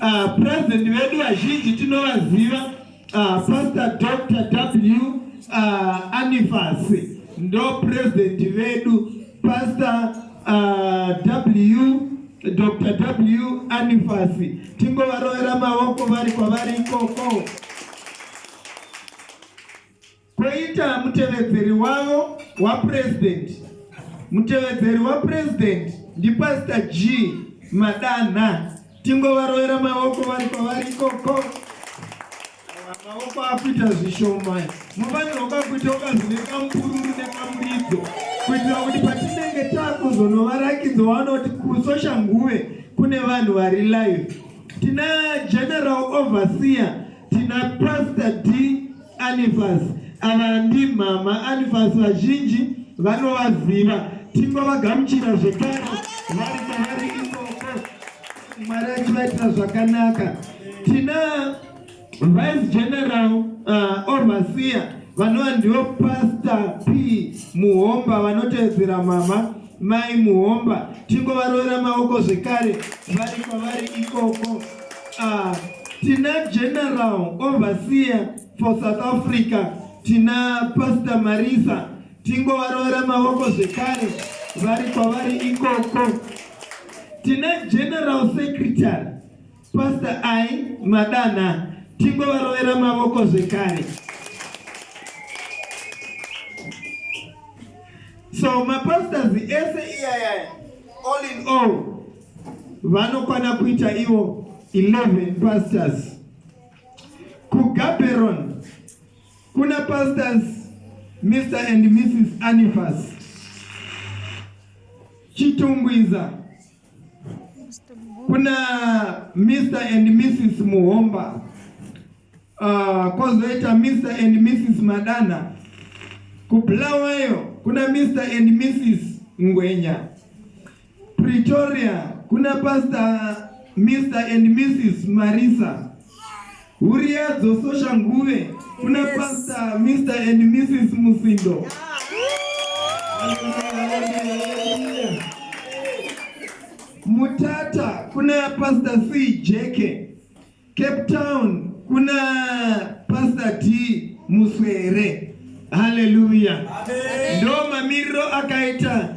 Uh, president vedu vazhinji tinovaziva uh, pastor dr w uh, anifas ndo president vedu pastor uh, w dr w anifas tingovarovera maoko vari kwavari ikoko Koita mutevedzeri wavo waPresident. Mutevedzeri waPresident ndiPastor G Madanha. Tingovarovera maoko vari kwavari ikoko. Maoko akuita zvishoma. Mufanirwa kwakuita ukazine kamupururu nekamuridzo kuitira kuti patinenge takuzonovarakidza wanoti kusosha nguve kune vanhu vari live. Tina general overseer Tina Pastor D Anifas ava ndimama Anifas vazhinji vanovaziva tingovagamuchira zvekare vari kwavari ikoko mwari achivaitira zvakanaka tina vice general uh, overseer vanova ndivo pastor p muhomba vanotevedzera mama Mai Muhomba tingovaroera maoko zvekare vari kwavari ikoko. Ah, tina general overseer for South Africa tina Pastor Marisa tingovaroera maoko zvekare vari kwavari ikoko. Tina general secretary Pastor I madana tingovarovera mavoko zvekare. So mapastors ese iyayaya all in all vanokwana kuita ivo 11 pastors kugaberon kuna pastors mr and mrs anifas chitungwiza kuna Mr and Mrs Muhomba uh, kozoita Mr and Mrs Madana kubulawayo kuna Mr and Mrs Ngwenya Pretoria kuna Pastor Mr and Mrs Marisa Huria dzososha nguve kuna Pastor Mr and Mrs Musindo. Mutata kuna Pastor C Jeke. Cape Town kuna Pastor T Muswere. Hallelujah. Ndo mamiriro akaita